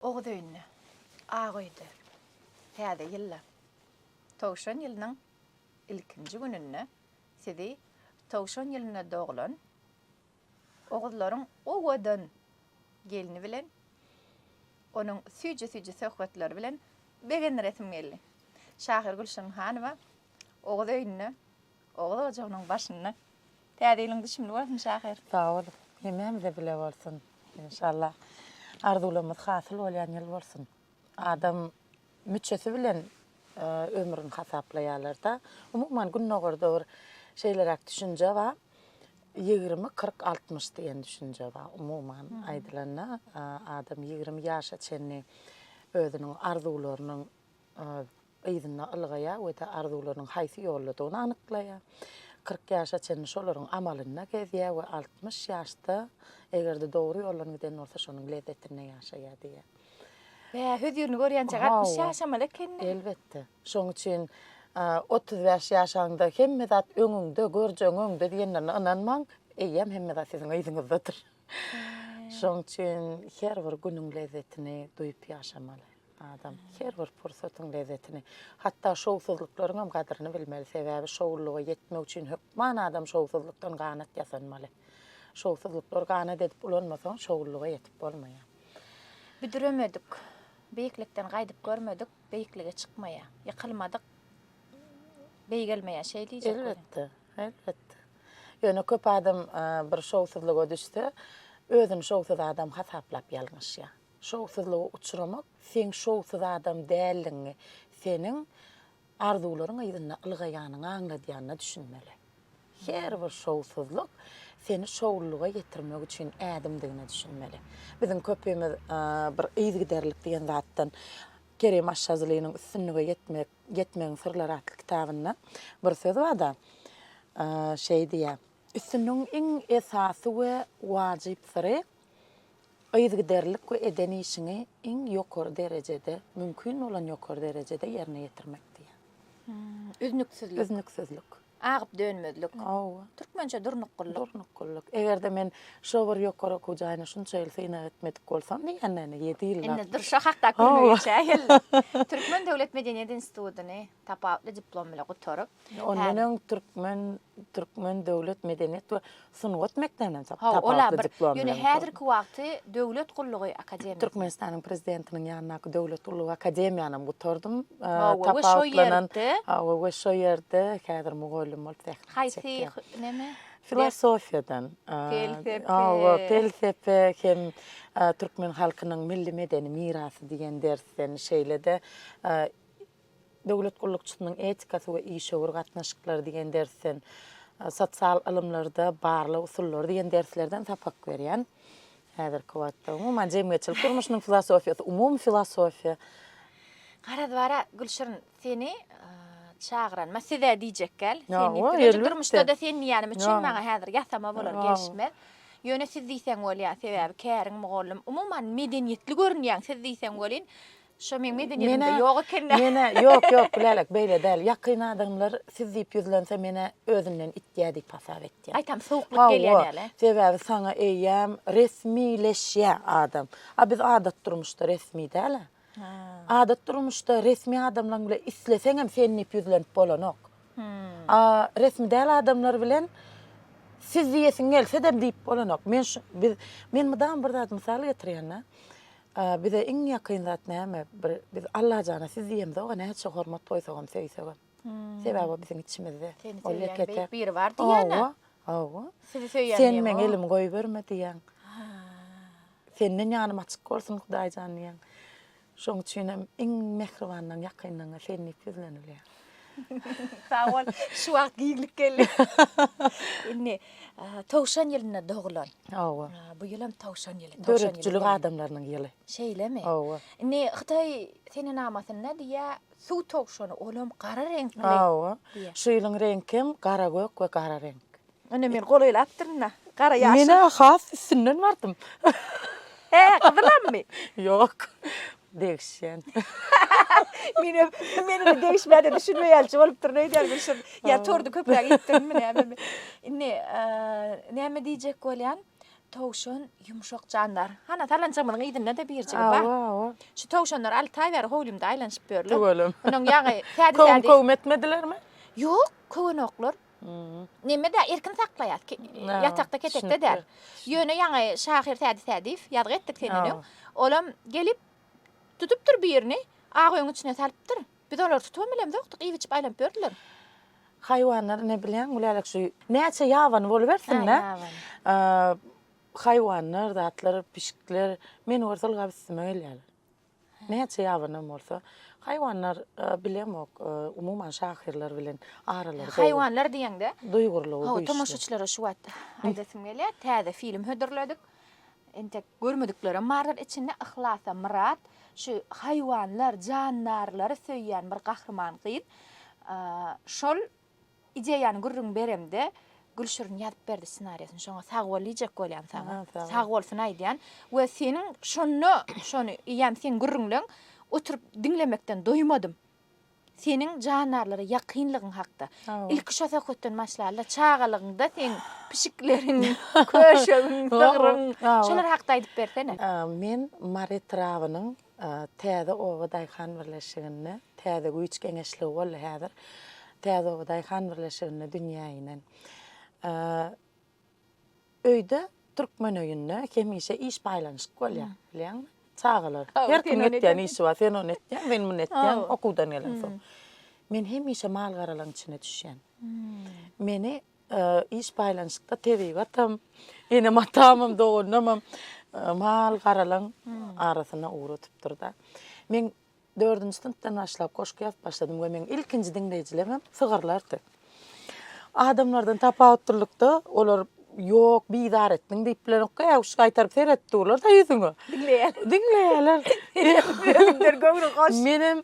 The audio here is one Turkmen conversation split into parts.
Oguz öýünde, ak öýde Täze ýylda, Towşan ýylynyň ilkinji gününde sizi Towşan ýylynda doglan Oguzlaryň owadan gelni bilen onuň süýji-süýji söhbetleri bilen begendiresim geldi. Şahyr Gülşirin Hanowa Oguz öýünde Oguz ojagynyň başynda. Täze ýylyň düşümli bolsun şahyr. Sag bol. Hemmämize bile bolsun. Enşalla arzuwlarymyz hasyl bolýan ýyl bolsun. Adam müçesi bilen ömrüni hasaplaýarlar-da. Umuman Gündogarda bir şeýleräk düşünje bar. Ýigrimi, kyrk, altmyş diýen düşünje bar. Umuman aýdylanda, adam ýigrimi ýaşa çenli özüniň arzuwlarynyň yzyna ylgaýar we-de arzuwlarynyň haýsy ýoldadygyny anyklaýar. Kyrk ýaşa çenli şolaryň amalynda gezýär we altmyş ýaşda, eger-de dogry ýoldan giden bolsa, şonuň lezzetinde ýaşaýar diýýär. Bä, hözürini görýänçäk altmyş ýaşamaly ekeni-dä? Elbetde. Şonuň üçin otuz bäş ýaşaňda hemme zat öňüňde, görjegiň öňde diýenlerine ynanmaň, eýýäm hemme zat siziň yzyňyzdadyr. Şoň üçin her bir günüň lezzetini duýup ýaşamaly adam. Her bir pursatyň lezzetini, hatda şowsuzlyklaryň hem gadyryny bilmeli. Sebäbi şowlulyga ýetmek üçin hökman adam şowsuzlykdan ganat ýasanmaly. Şowsuzlyklary ganat edip ulanmasaň, şowlulyga ýetip bolmaýar. Büdremedik, beýiklikden gaýdyp görmedik, beýiklige çykmaýar. Ýykylmadyk, beýgelmeýär. Şeý diýjek welin. Elbetde, Elbetde. Ýöne köp adam bir şowsuzlyga düşse, özüni şowsuz adam hasaplap ýalňyşýar. Şowsuzlyga uçramak, seň şowsuz adam däldigiňi, seniň arzuwlaryň yzynda ylgaýanyňy aňladýanyna düşünmeli. Her bir şowsuzlyk seni şowlulyga ýetirmek üçin ädimdigine düşünmeli. Biziň köpimiz bir yzgiderlik diýen zatdan Kerim Aşşazlynyň Üstünlige ýetmek Ýetmegiň syrlary atly kitabynda bir söz bar-da, şeý diýýär, Üstünligiň iň esasy we wajyp syry, yzygiderlilik we eden işiňi iň ýokary derejede, mümkin bolan ýokary derejede ýerine ýetirmek diýýär. Üznüksizlik. Üznüksizlik. Agyp dönmezlik. Hawa. Türkmençe durnukgullyk. Durnukgullyk. Eger-de men şo bir ýokary okuw jaýyna şunça ýyl synag etmedik bolsam diýýänlerine ýedi ýyl wagt. Indi dur şo hakda gülmek geçýär geldi. Türkmen döwlet medeniýet institutyny tapawutly diplom bilen gutaryp. Ondan öň türkmen türkmen döwlet medeniýet we Sungat mekdebinden soň tapawutly diplom bilen. Ýöne häzirki wagty Döwlet gullugy akademiýasyny. Türkmenistanyň Prezidentiniň ýanyndaky Döwlet gullugy akademiýanam gutardym. Hawa, we şo ýerde. Hawa, we şo ýerde häzir mugallym bolup zähmet çekýän. Haýsy näme? Filosofiýadan. Pelsepe. Hawa, pelsepe hem türkmen halkynyň milli medeni mirasy diýen dersden, şeýle-de Döwlet gullukçysynyň etikasy we işewür gatnaşyklary diýen dersden, Sosial ylymlarda barlag usullary diýen derslerden sapak berýän. Häzirki wagtda, umuman, jemgyýetçilik durmuşynyň filosofiýasy, umumy filosofiýa. Garaz, bar-a, Gülşirin, seni çagyran, ma, siz-ä diýjek gel. Sen diýip dur. Önje durmuşda-da sen diýýänim üçin maňa häzir ýasama bolar, gelişmez. Ýöne siz diýseň bolýar, sebäbi käriň mugallym. Umuman, medeniýetli görünýäň, siz diýseň welin, Şo meň medeniýetimde ýok eken-dä. Menä, menä, ýok, ýok, Lälek, beýle däl. Ýakyn adamlar siz diýip ýüzlense, menä özünden itýär diýip hasap etýär. Gaýtam sowuklyk gelýär näle? Hawa, sebäbi saňa eýýäm resmileşýär adam. A biz adat durmuşda resmi däl-ä. Adat durmuşda resmi adamlaň bilen isleseňem sen diýip ýüzlenip bolanok. A resmi däl adamlar bilen siz diýesiň gelse-de diýip bolanok. Men şu, biz, men mydama bir zat mysal getirýän-dä. A bize iň ýakyn zat näme? Bir biz Allajana siz diýemzog-a, näçe hormat goýsagam, söýsegem. Sebäbi o biziň içimizde. Seni Ol söýýän ýeke-täk. beýik biri bar diýýän-ä. Hawa, hawa. Sizi söýýän Sen diýen meň o. elimi goýberme diýýän. Senden ýanym açyk bolsun, Hudaýjan diýýän. Şoň üçinem iň mähribanlaň ýakynlaňa sen diýip ýüzlenilýär. Sag bol. Şu wagt giňlik geldi. Indi towşan ýylynda dogulan. Hawa. Bu ýylam towşan ýyly. Döredijiligi adamlarynyň ýyly. Şeýlemi? Hawa. Indi hytaý senenamasynda diýýä suw towşany olam gara reňkli. Hawa. Şu ýylyň reňkem gara gök we gara reňk. Ine men golaýlapdyryn-da. Gara ýaşyl. Men-ä has üstünden bardym. Hä, gyzylammy? Ýok. Degişýän. Menem, menem degişmäne düşünme ýalyja bolupdyryn öýdýän bilşim. Ýa tordy köpräk iýipdirinmi nämemi. Indi, näme diýjek bolýan? Towşan ýumşak jandar. Hana salanjygymyzyň yzynda-da birjigi bar. Hawa, hawa. Şu towşanlar alty aý bäri howlymda aýlanyşyp ýörler. Tüweleme. Munuň ýaňy täze-täze. Köwüm-köwüm etmedilermi? Ýok, köwenoklar. Nemede erkin saklaýas. Ýatakda ketekde däl. Ýöne ýaňy şahyr Sädi Sädiýew ýazgy etdik senden öň. Olam gelip tutupdyr birini, ak öýüň içine salypdyr. Biz olary tutubam bilemzokdyk, iýip-içip aýlanyp ýördüler. Haýwanlar ne bilýäň Gülälek şu näçe ýabany bolubersin-dä. Haýwanlar, zatlar, pişikler meni görse ylgap üstüme gelýärler. Näçe ýabanyň bolsa, haýwanlar bilemok, umuman şahyrlar bilen aralary. Haýwanlar diýeňde, duýgurlygy güýçli. Tomaşaçylara şu wagt aýdasym gelýär, täze film hödürledik. Entek görmediklerem bardyr içinde. Yhlasa Myrat şu haýwanlar, jandarlary söýýän bir gahryman gyz. Şol Ideýany gürrüň beremde Gülşirin ýazyp berdi ssenariýasyny şoňa sag bol diýjek bolýan saňa. Sag bolsun aýdýan we seniň şonda şony eýýäm seň gürrüňleň oturyp diňlemekden doýmadym. Seniň jandarlara ýakynlygyň hakda. Ilki şo söhbetden başlalyda çagalygyňda seň pişikleriň, köşegiň, sygryň şolar hakda aýdyp bersene. Men Mary etrabynyň Täze oba daýhan birleşiginde täze güýç geňeşligi boldy häzir. Täze oba daýhan birleşiginde dünýä inen. Öýde türkmen öýünde hemişe iş paýlanyşyk bolýar bilýäňmi? Çagalar her kim etýän işi bar. Sen ony etýäň, men muny etýän okuwdan gelensoň. Men hemişe mal-garalaryň içine düşýän. Meni Iş baýlanşykda tebigatam, enem-atamam, doganymam mal garalan arasyna ugratupdyr-da. Men dördünji synpdan başlap goşgy ýazyp başladym we meň ilkinji diňleýjilerimem sygyrlardy. Adamlardan tapawut dürlükde, olar ýok, bizar etdiň diýip bilenokka, äwuş gaýtaryp seredip durlar-da ýüzüňe. Diňleýärler. Diňleýärler. Özümdir göwni hoş. Menem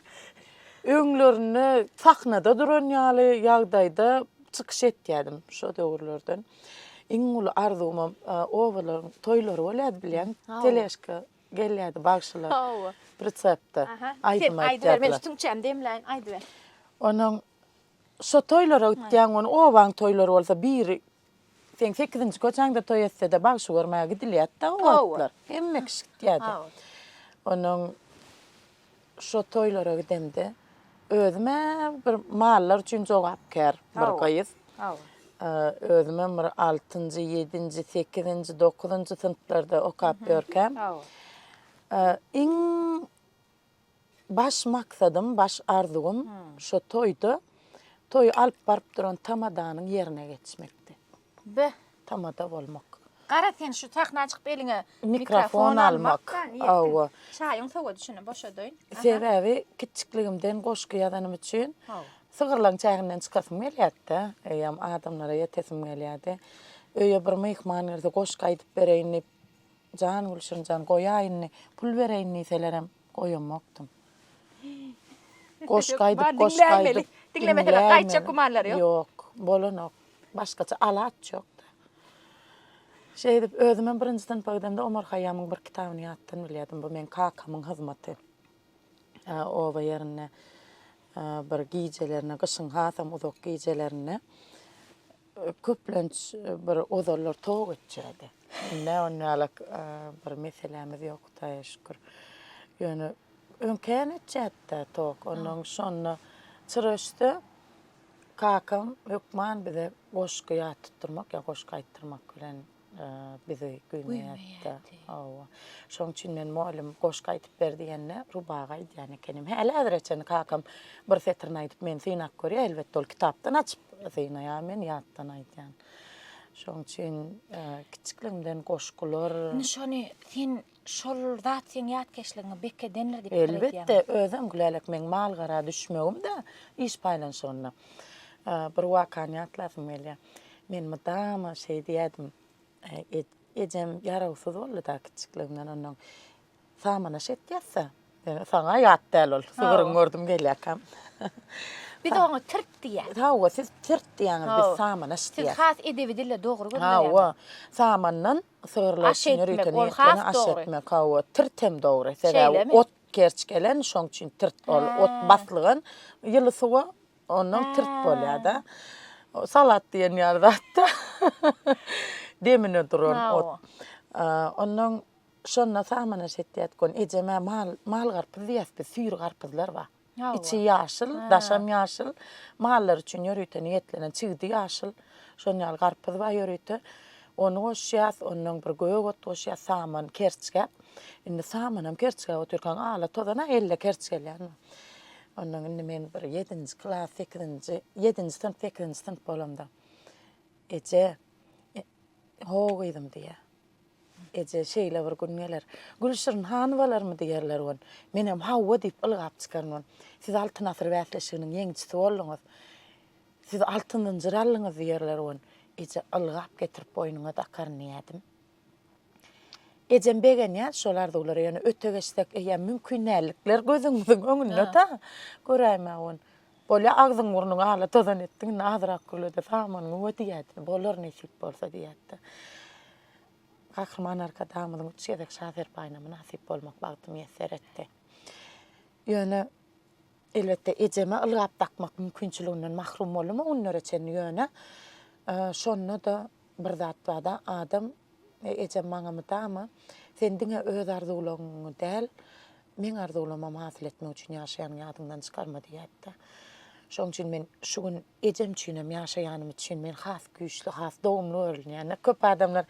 öňlerinde sahnada duran ýaly ýagdaýda. çykyş etýärdim şo döwürlerden. Iň uly arzuwymam obalaryň toýlary bolýardy bilýän. Teleşka gelýärdi bagşylar. Hawa. Pritsepde. Aha. Aýdym aýdýardylar. Men tüňçämi demläýin, aýdyber. Onuň şo toýlara gitýäň, ony obaň toýlary bolsa biri seň sekizinji köçäňde toý etse-de bagşy görmäge gidilýärdi-de o wagtlar. Hemme kişi gitýärdi. Hawa. Onuň Şo toýlara gidemde özüm-ä bir mallar üçin jogapkär bir gyz. Özümem bir altynjy, ýedinji, sekizinji, dokuzynjy synplarda okap ýörkäm, iň baş maksadym, baş arzuwym şo toýda toýy alyp baryp duran tamadanyň ýerine geçmekdi. Be, tamada bolmak. Gara sen şu sahna çykyp eliňe mikrofon almak. Hawa. Çaýyň sowady şuny boşadaýyn. Sebäbi kiçjikligimden goşgy ýazanym üçin sygyrlaň çäginden çykasym gelýärdi. Öýem adamlara ýetesim gelýärdi. Öýe bir myhman gelse goşgy aýdyp bereýin diýip jan gülşirinjan goýaýyndy. Pul bereýin diýselerem Goýamokdym. Goşgy aýdyp, goşgy aýdyp. Diňlemeseler gaýtjak gümanlary ýok. Ýok, bolanok. Başgaça alaç ýok-da. Şeýdip, özümem birinji synpa gidemde Omar Haýýamyň bir kitabyny ýatdan bilýärdim. Bu meň kakamyň hyzmaty. Oba ýerinde bir gijelerine, gyşyň hasam uzak gijelerinde. Köplenç bir ozallar toga göçýärdi. Indi-ä onuň ýaly bir meselämiz ýok, Hudaýa şükür. Ýöne öňkäýem öçýärdi-dä tok. Onnoň şonda çyra öçse, kakam hökman bize goşgy ýat tutdurmak ýa goşgy aýtdyrmak bilen Bizi güýmeýärdi-de. Hawa. Şonuň üçin men mugallym goşgy aýdyp ber diýende, rubagy aýdýan ekenim. Häli-häzire çenli kakam bir setirini aýdyp meni synap görýär. Elbetde, ol kitapdan açyp synaýar, men ýatdan aýdýan. Şonuň üçin kiçilikligimden goşgular. Indi şony sen Şol zat seň ýatkeşligiňi bekedendir diýip pikir edýäňmi? Elbetde, özem Gülälek meň mal-gara düşmegim-de iş paýlanyşygynda. Bir wakany ýatlasym gelýär. Men mydama şeý diýerdim, Ejem ýarawsyz boldy-da kiçikligimden onnoň samana şet ýatsa, saňa ýat däl ol, sygyryň gördüm gelýärkäm. Biz oňa tirt diýýäs. Hawa, siz tirt diýýäňiz, biz samana şt diýýäs. Siz has edebi dille dogry gürleýäňiz. Hawa, samandan Sygyrlar üçin ýörite niýetlenen aş etmek, hawa, tirt hem dogry. Sebäbi ot kerç gelen, şoň üçin tirt ol. Ot baslygan ýyly suwa ondan tirt bolýar-da. Salat diýen ýaly zat-da. Demine duran ot. Ondan şonda samanaş etýärdik. Ony ejem-ä mal, mal garpyz diýýäs biz, süýri garpyzlar bar. Içi ýaşyl, daşam ýaşyl. Mallar üçin ýörite niýetlenen çigidi ýaşyl. Şonuň ýaly garpyz bar ýörite. Ony goşýas, ondan bir gök ot goşýas, saman, kerçgäp. Indi samanam kerçgäp otyrkaň ala tozana elle kerç gelýär. Ondan indi men bir ýedinji klas, sekizinji, ýedinji synp, sekizinji synp bolamda eje, Ho gyzym diýýär. Eje, şeýle bir gün geler. Gülşirin Hanowalarmy diýerler wan. Menem hawa diýip ylgap çykaryn wan. Siz Altyn asyr bäsleşiginiň ýeňijisi bolduňyz. Siz altyn zynjyr aldyňyz diýerler wan. Eje, ylgap getirip boýnuňa dakaryn diýerdim. Ejem begenýär şol arzuwlara ýöne öte geçsek eýýäm mümkin dällikler gözüňiziň öňünde-da. Göräýmäge wan. Bolýa, agzyň-burnuňy ala tozan etdiň, indi azrak gürle-de, samanyňy we diýýärdi. Bolar, nesip bolsa diýýärdi. Gahryman Arkadagymyzyň üç gezek Şa serpaýyna mynasyp bolmak bagty miýesser etdi. Ýöne, elbetde, ejeme ylgap dakmak mümkinçiliginden mahrum boldum o günlere çenli, ýöne, şonda-da Bir zat bar-da, adam, ejem maňa mydama, Sen diňe öz arzuwlaryňy däl, meň arzuwlarymy hasyl etmek üçin ýaşaýanyňy ýadyňdan çykarma diýýärdi. Şonuň üçin men şu gün ejem üçinem ýaşaýanym üçin men has güýçli, has dogumly görünýän-dä. Köp adamlar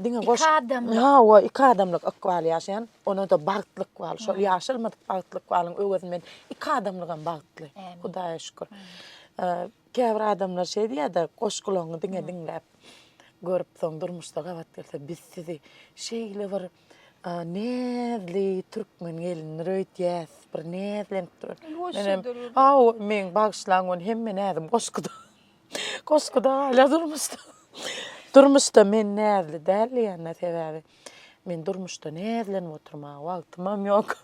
diňe boş... Iki adamlyk. Hawa, iki adamlyk ykbal ýaşaýan, ony-da bagtly ykbal. Şol ýaşalmadyk bagtly ykbalyň öwezini men iki adamlygam bagtly, Hudaýa şükür. Käbir adamlar şeý diýýärdi, goşgularyňy diňe diňläp görüp, soň durmuşda gabat gelse, biz sizi şeýle bir näzli türkmen gelindir öýdýäs, bir näzlenip durýar. Menem, hawa, meni bagyşlaň, men hemme näzim goşguda. Goşguda galýar durmuşda. Durmuşda men näzli däl diýende, sebäbi men durmuşda näzlenip oturmaga wagtymam ýok.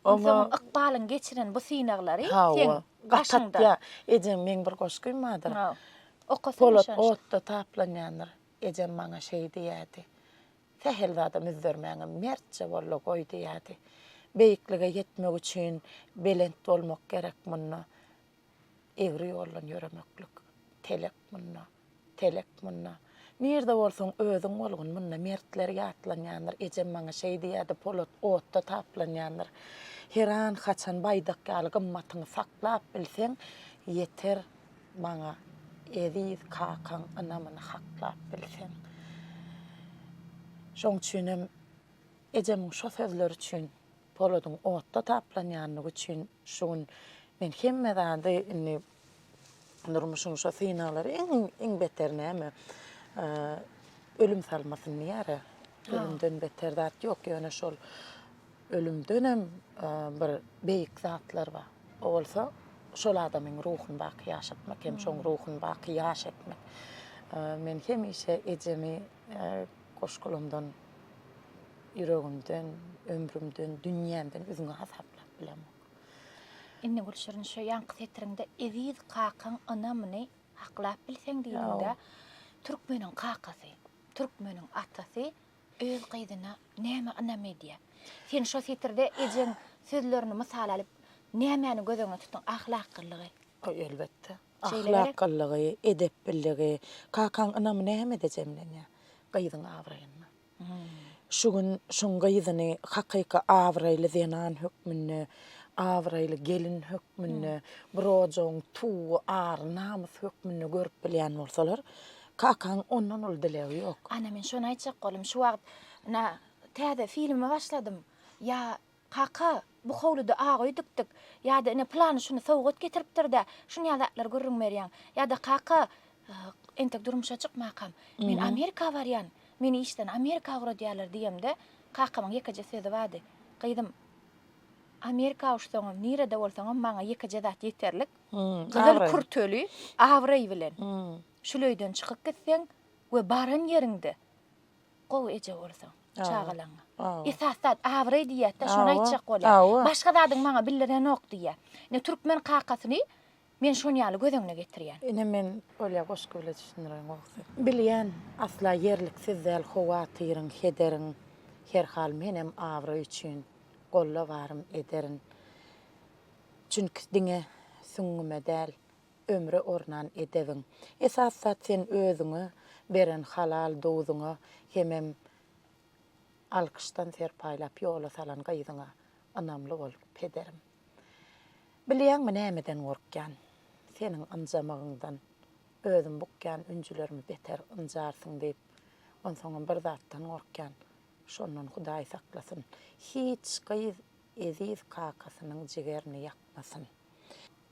Ykbalyň geçiren bu synaglary seň Gaşyňda. Ejeň meň bir goşgym bardyr. Okasana Polat otda taplanýandyr. Ejem maňa şeý diýýärdi. Sähel zada müzzermäňä, mertje bol-la goý diýýärdi. Beýiklige ýetmek üçin belent bolmak gerek munda. Egri ýoldan ýöremeklik, telek munda. Telek munda. Nirde bolsaň özüň bolgun munda mertler ýatlanýandyr ejem maňa şeý diýýärdi polat otda taplanýandyr heran haçan baýdak ýaly gymmatyňy saklap bilseň ýeter maňa eziz kakaň ynamyny haklap bilseň şoň üçinem ejemiň şo sözleri üçin poladyň otda taplanýandygy üçin şu gün men hemme zady indi Durmuşyň şo synaglary iň iň beter näme? Ölüm salmasyn diýär-ä. Ölümden beter zat ýok, ýöne şol ölümdenem bir beýik zatlar bar. O bolsa şol adamyň ruhuny baky ýaşatmak hem şoň ruhuny baky ýaş etmek. Men hemişe ejemi goşgulamdan, ýüregimden, ömrümden, dünýämden üzňe hasaplap bilemok. Indi Gülşirin şu ýaňky setiriňde Eziz kakaň ynamyny haklap bilseň diýdiňdä, türkmeniň kakasy, türkmeniň atasy öz gyzyna nämä ynam edýär? Sen şo setirde ejeň sözlerini mysal alyp, nämäni göz öňüne tutduň? Ahlaklylygy. Elbetde. Ahlaklylygy, edepbiligi. Kakaň ynamy nämede jemlenýär? Gyzyň abraýynda. Şu gün şuň gyzyny hakyky abraýly zenan hökmünde, abraýly gelin hökmünde, bir ojagyň tuwy, ary, namysy hökmünde görüp bilýän bolsalar, kakaň ondan uly dilegi ýok. Ana, men şony aýtjak boldum. Şu wagt, ynha, täze filme başladym. Ýa. Kaka, bu howluda agy öýdükdik. Ýa-da ine pylany şuny sowgat getiripdir-dä, şunýa zatlar gürrüň berýäň. Ýa-da kaka, entek durmuşa çykmakam, men Amerika barýan, meni işden Amerika ugradýarlar diýemde, kakamyň ýekeje sözi bardy, Gyzym, Amerika uşsaňam, nirede bolsaňam maňa ýekeje zat ýeterlik, gyzyl kürteli, abraý bilen, şuleýden çykyp gitseň we baran ýeriňde Gowy eje bolsaň, çagalaryňa. Esasy zat abraý diýýäs-dä, şony aýtjak bolýar. Başga zadyň maňa bildirenok diýýär. Ine, türkmen kakasyny men şonuň ýaly göz öňüne getirýän. Ine, men bolýa goşgy bile düşündiren gowusy. Bilýän, asla ýerliksiz däl howatyryň, hederiň. Her hal menem abraý üçin golla barym ederin. Çünki diňe süňňüme däl, ömre ornan edewiň. Esas zat sen özüňe beren halal dowzuňa hemem alkyşdan serpaýlap ýola salan gyzyňa ynamly bol, pederim. Bilýäňmi nämeden gorkýan? Seniň ynjamagyňdan. Özüm bukýan ünjülerimi beter ynjarsyň diýip, onsoňam bir zatdan gorkýan, şondan Hudaý saklasyn, hiç gyz eziz kakasynyň jigerini ýakmasyn.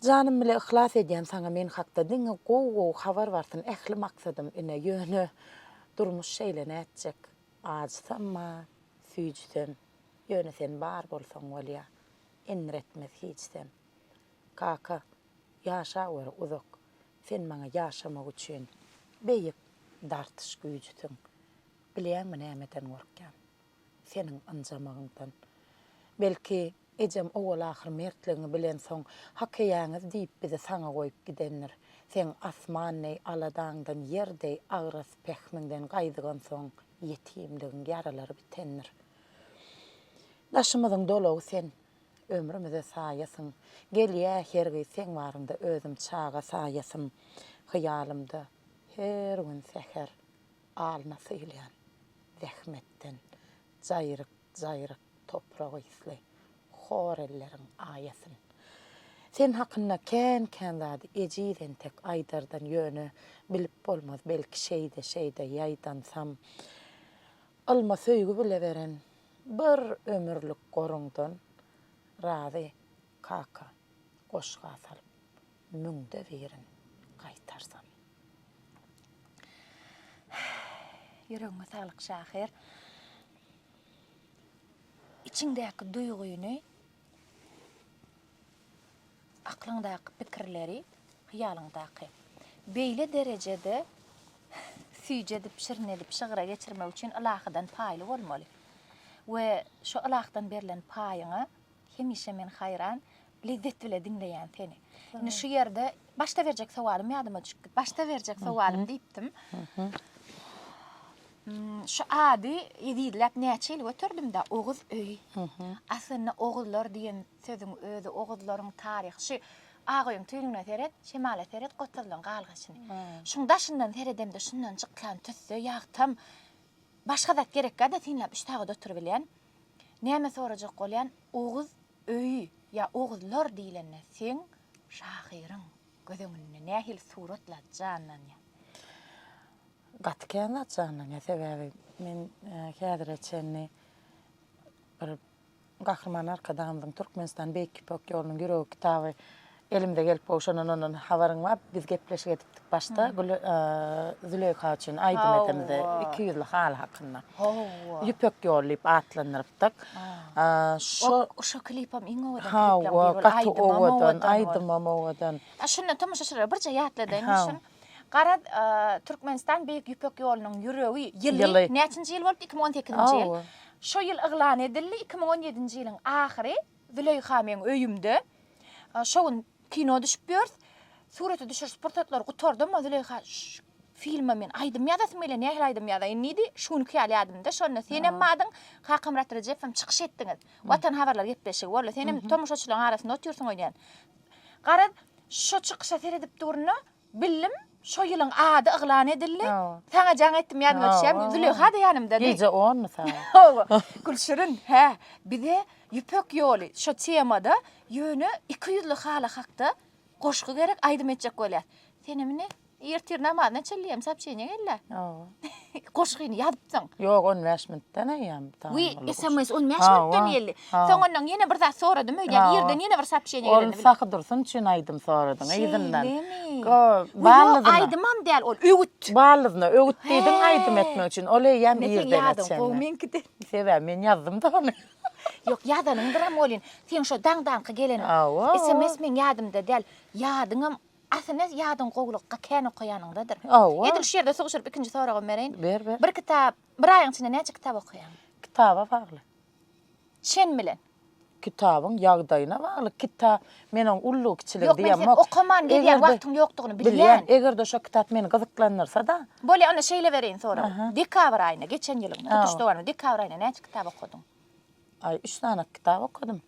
Janym bile yhlas edýän saňa men hakda diňe gowy gowy habar barsyn ähli maksadym ine ýöne durmuş şeýle nätjek ajysamma süýjsem ýöne sen bar bolsaň bolýa enretmez hiçsem kaka ýaşaweri uzak sen maňa ýaşamak üçin beýik dartyş güýjüsiň bilýäňmi nämeden gorkýan seniň ynjamagyňdan. Belki, ejem owal-ahyr mertligiňi bilensoň, Hak eýäňiz diýip bizi saňa goýup gidendir. Seň asman deý aladaňdan, ýer deý agras pähmiňden gaýdygansoň, ýetimligiň ýaralary bitendir. Daşymyzyň dolagy sen, ömrümize saýasyň. Gelýä hergi seň baryňda özüm çaga saýasym. Hyýalymda her gün säher. Alna syýylýan zähmetden jaýryk-jaýryk toprak ysly hor elleriň aýasyn. Sen hakynda kän-kän zady ejiz entek aýdardan ýöne bilip bolmaz belki şeýde-şeýde ýaýdansam ylma söýgi bile beren bir ömürlik goruňdan razy kaka goşga salyp Müňde birin gaýtarsam. Ýüregiňe saglyk şahyr. Içiňdäki duýgyny, aklyňdaky pikirleri, hyýalyňdaky beýle derejede süýji edip, şirin edip şygra geçirmek üçin ylahydan paýly bolmaly we şo ylahydan berlen paýyňa Hemişe men haýran, lezzet bile diňleýän seni. Indi şu ýerde başda berjek sowalym ýadyma düşüpdi. Başda berjek sowalym diýipdim. Şu ady ezizläp näçe ýyl göterdim-dä, Oguz öýi. Aslynda Oguzlar diýen sözüň özi, Oguzlaryň taryhy şu Agaöýüň tüýnügine seret, şemala seret, Gotazylyň galgaşyny. Şuň daşyndan seredemde şundan çykýan tüsse, ýagtam, başga zat gerekgä-de synlap üç sagat oturybilýän. Näme sorajak bolýan Oguz öýi ýa Oguzlar diýlende seň şahyryň göz öňünde nähili suratlar janlanýa? Gaty kän zat janlanýa sebäbi men häzire çenli bir Gahryman Arkadagymyzyň Türkmenistan Beýik Ýüpek ýolunyň ýüregi kitaby Elimize gelip gowşanan ondan habaryň bar. Biz gepleşik edipdik başda Gül Züleýha üçin aýdym edemde iki ýüzli haly hakynda. Hawa. Ýüpek ýoly diýip atlandyrypdyk. Şo şo klipem iň owadan klipleriň biri boldy. Gaty owadan, aýdymam owadan. Şunda tomaşaçylara birje ýatladaýyn şun. Garaz, Türkmenistan Beýik Ýüpek ýolunyň ýüregi ýyly näçinji ýyl bolupdy? Iki müň on sekizinji ýyl. Şo ýyl yglan edildi, iki müň on ýedinji ýylyň ahyry Züleýha meň öýümde. Şo gün kino düşüp ýörüs. Surata düşüriş pursatlary gutardy, emma Züleýha filme men aýdym ýazasym gelýär, nähili aýdym ýazaýyn diýdi. Şu günki ýaly ýadymda. Şonda senem bardyň, Kakamyrat Rejepow hem çykyş etdiňiz. Watan habarlary gepleşigi boldy. Senem tomaşaçylaryň arasynda otyrsyň öýdýän. Garaz, şo çykyşa seredip durna, Bildim, şo ýylyň ady yglan edildi. Saňa jaň etdim, ýanyma düşýäň. Züleýha-da ýanymda. Gije onmy sagat? Hawa. Gülşirin, hä, bize Ýüpek ýoly şo temada ýöne iki ýüzli haly hakda goşgy gerek, aýdym etjek bolýas. Senem indi ertir namazyna çenli hem sopçeniýa gel-dä. Hawa. goşgyny ýazypsyň. Ýok, on bäş minutdan eýýäm. Wi, sms on bäş minutdan geldi. Soňundan ýene bir zat soradym, öýdýän ýerden ýene bir sapşeniýa geldi. Ol Sahy Dursun üçin aýdym soradyň, yzyndan. Ýok, aýdymam däl ol, öwüt. Ballydyna öwüt diýdiň aýdym etmek üçin, ol eýýäm irden etseňňä. Meň ýadym gowy meňkiden. Sebäbi men ýazdym-da ony. Ýok, ýazanyňdyram welin, seň şo daňdanky geleniň. Sms meň ýadymda däl. Ýadyňam Aslynda ýadyň gowulygy ga kän okaýanyňdadyr. Hawa. Edil şu ýerde suguşyryp ikinji soragym bereýin. Ber, ber. Bir kitap, bir aýyň içinde näçe kitap okaýaň? Kitaba bagly. Çen bilen. Kitabyň ýagdaýyna bagly. Kita, men oň ullugy, kiçiligi Ýok, men diýemok. sen okaman gezýän Eger-de- wagtyň ýokdugyny bilýän. Bilýän. Eger-de şo kitap meni gyzyklandyrsa-da, Bolýa, onda şeýle bereýin soragy. Aha. Dekabr aýynda, geçen ýylyň tutuş Hawa. dowamynda dekabr aýynda näçe kitap okadyň? Aý, üç sany kitap okadym.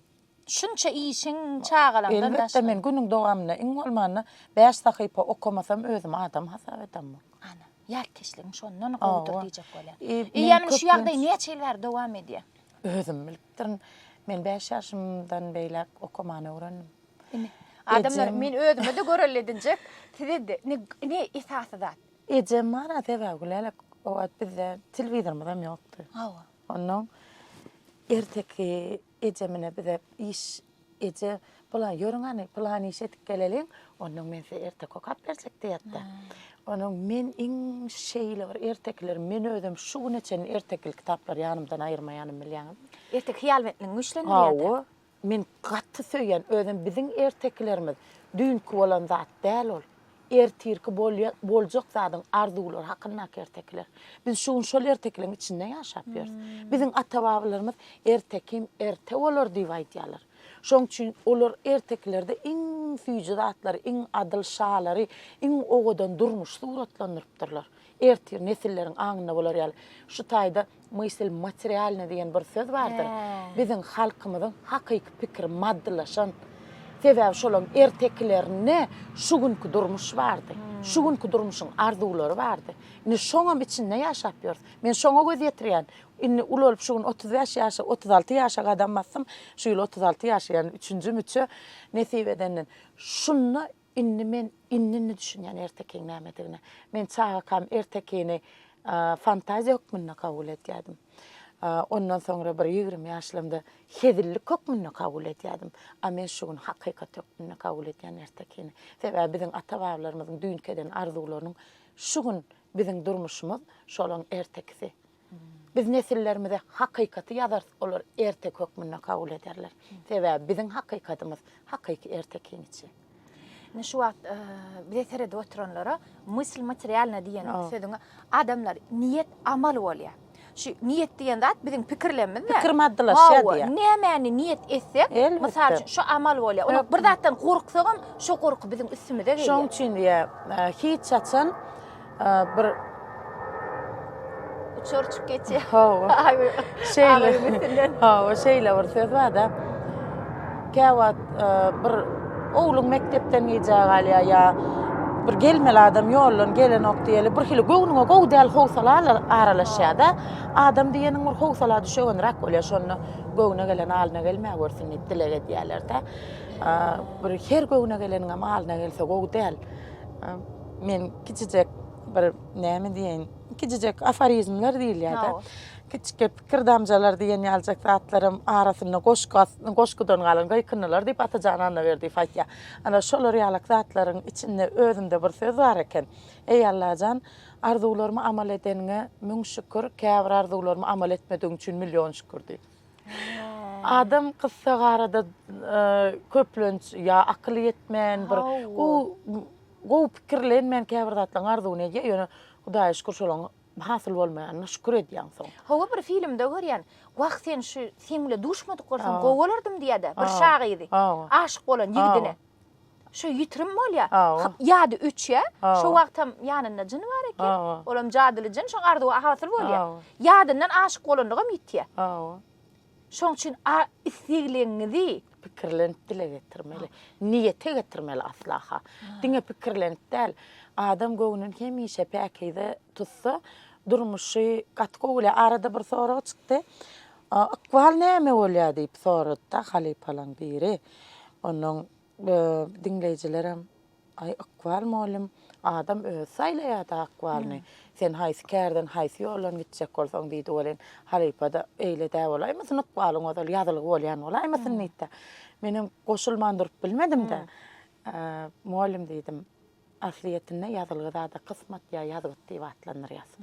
Şunça işiň çagalaňdan daşary. Elbetde men günüň dowamynda iň bolmanda bäş sahypa okamasam özümi adam hasap edemok. Ana, ýatkeşligiň şondan gowudyr diýjek bolýan. Eýýäm şu ýagdaý näçe ýyl bäri dowam edýär? Özüm bilipdirin. Men bäş ýaşymdan beýläk okamany öwrendim. Ine, adamlar men özüme-de görelde edinjek, size-de. Ine, ine esasy zat. Ejem bar-a sebäbi Lälek o wagt bizde telewizorymyzam ýokdy. Hawa. Onnoň erteki. Eje mine bize iş eje bulan ýörüň hany plan iş edip geleliň ondan men size erte kokap berjek diýetda. Onuň men iň şeýle bir ertekiler men özüm şu güne çenli ertekil kitaplary ýanymdan aýyrmaýanym bilýäňizmi. Erteki hyýalbentligiň güýçlenir ýa-da. Men gaty söýýän özem biziň ertekilerimiz düýnki bolan zat däl ol. Ertirki bolýan, boljak zadyň arzuwlary hakyndaky ertekiler. Biz şu gün şol ertekileň içinde ýaşap ýörüs. Biziň ata-babalarymyz Ertekim erte bolar diýip aýdýarlar. Şoň üçin olar ertekilerde iň süýji zatlary, iň adyl şalary, iň owadan durmuşy suratlandyrypdyrlar. Ertir nesilleriň aňynda bolar ýaly. Şu taýda Mysl materialny diýen bir söz bardyr. Biziň halkymyzyň hakyky pikiri maddylaşan. Sebäbi şolaň ertekilerinde şu günki durmuş bardy. Şu günki durmuşyň arzuwlary bardy. Indi şoňam içinde ýaşap ýörüs. Men şoňa göz ýetirýän. Indi uly bolup şu gün otuz bäş ýaşa, otuz alty ýaşa gadam basdym. Şu ýyl otuz alty ýaşaýan, üçünji müçe nesip edenden. Şunda Indi men indi-indi düşünýän ertekiň nämedigine. Men çagakam ertekini fantaziýa hökmünde kabul edýärdim. Ondan soňra bir ýigrimi ýaşlarymda hezillik hökmünde kabul edýärdim. A men şu gün hakykat hökmünde kabul edýän ertekini. Sebäbi biziň ata-babalarymyzyň düýnki eden arzuwlarynyň şu gün biziň durmuşymyz şolaň ertekisi. Biz nesillerimize hakykaty ýazarys, olar ertek hökmünde kabul ederler. Sebäbi biziň hakykatymyz, hakyky ertek kiçi. Indi şu wagt bize seredip oturanlara mysl materialna diýen sözüň adamlar niýet amal bolýar. şu niýet diýen zat biziň pikirlerimiz pikir maddalaşýar diýýär. Nämäni niýet etsek, mysal üçin şu amal bolýar. Onuň bir zatdan gorksak hem şu gorky biziň üstümize gelýär. Şoň üçin diýýär, hiç haçan bir uçar uçup geçýär. Şeýle. Hawa, şeýle bir söz bar-da. Käwagt e, bir oglum mekdepden gijä galýar ýa bir gelmeli adam ýoldan gelenok diýeli bir hili göwnüňe gowy däl howsala aralaşýar-da. Adam diýeniň bir howsala düşegenräk bolýar şonda göwne gelen alyna gelmä görsün diýip dileg edýärler-de. Bir her göwne geleniňem alyna gelse gowy däl. Men kiçijek bir näme diýeýin, kiçijek aforizmler diýilýär-de. Kiçijek pikir damjalar diýen ýalyjak zatlaram arasynda goşgy, goşgudan galan gyýkyndylar diýip Atajan Annaberdiýew aýtýar. Ana, şolar ýalyk zatlaryň içinde özümde bir söz bar eken, Eý, Allajan, arzuwlarymy amal edeniňe müň şükür, käbir arzuwlarymy amal etmedigiň üçin million şükür diýip. Adam gyssagarada köplenç ýa akyly ýetmän, bir gowy, Gowy pikirlen men käbir zatlaň arzuwyny edýän ýöne Hudaýa şükür şolaň hasyl bolmaýanyna şükür edýän soň. Hawa bir filmde görýän wah sen şu sen bile duşmadyk bolsaň gowy bolardym diýädä bir şa gyzy aşyk bolan ýigdine şu ýitirim bolýa ýady öçýä şo wagtam ýanynda jyn bar eken olam jadyly jyn şoň arzuwy hasyl bolýa ýadyndan aşyk bolanlygam ýitýä Şoň üçin a islegleňňizi. Pikirlenip dile getirmeli. Niýete getirmeli aslaha. Diňe pikirlenip däl. Adam göwnüni hemişe päkize tutsa, durmuşy gaty gowy bolýar. Arada bir sorag çykdy. Ykbal näme bolýar diýip sorady-da halypalaň biri. Onnoň Diňleýjilerem Aý ykbal mugallym adam özi saýlaýada ykbalyny. Sen haýsy kärden haýsy ýoldan gitjek bolsaň diýdi welin halypada eýle dä bolaýmasyn ykbalyň ozal ýazylgy bolýan bolaýmasyn diýdi-de. Menem goşulman durup bilmedim-de. Mugallym diýdim aslyýetinde ýazylgy zada kysmat ýa ýazgyt diýip atlandyrýas.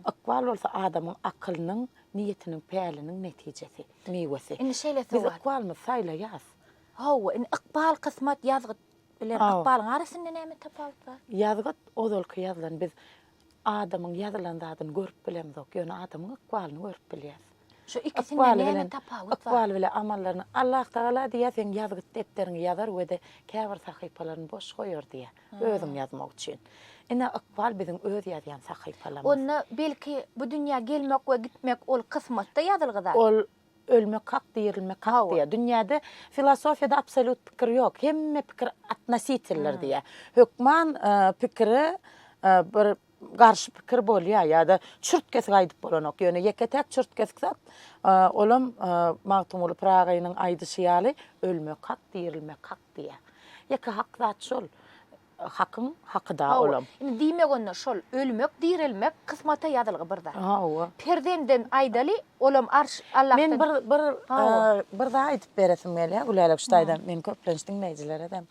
Ykbal bolsa adamyň akylynyň, niýetiniň, päliniň netijesi, miwesi. Biz ykbalymyzy saýlaýas. Hawa, indi ykbal, kysmat, ýazgyt bilen Hawa. ykbalyň arasynda näme tapawut bar? Ýazgyt, ozalky ýazylan, biz adamyň ýazylan zadyny görüp bilemzok, ýöne adamyň ykbalyny görüp bilýäs. Şu ikisinde Ykbaly näme bilen, tapawut bar? ykbaly bilen amallaryny Allahtagala diýýär, seň ýazgyt depderiňi ýazar we-de käbir sahypalaryny boş goýar diýýär, özüň ýazmak üçin. Ine, ykbal biziň öz ýazýan sahypalarymyz. Onda, belki, bu dünýä gelmek we gitmek, ol kysmatda ýazylgy zat? Ol Ölmek hak, dirilmek hak diýýär. Dünýäde filosofiýada absolýut pikir ýok. Hemme pikir atnositildir diýýär. Hökman pikire bir garşy pikir bolýar ýa-da çürt-kesik aýdyp bolanok. Ýöne ýeke-täk çürt-kesik zat, olam Magtymguly Pyragy agynyň aýdyşy ýaly, Ölmek hak, dirilmek hak diýýär. Ýeke hak zat şol. Hakyň hakyda olam. Indi diýmek onda şol ölmek direlmek kysmata ýazylgy bir zat. Hawa. Perzenden aýdaly olam arş Allahdan. Men bir bir bir zat aýdyp beresim gelýär Gülälek şu taýdan men köplenç diňleýjileredem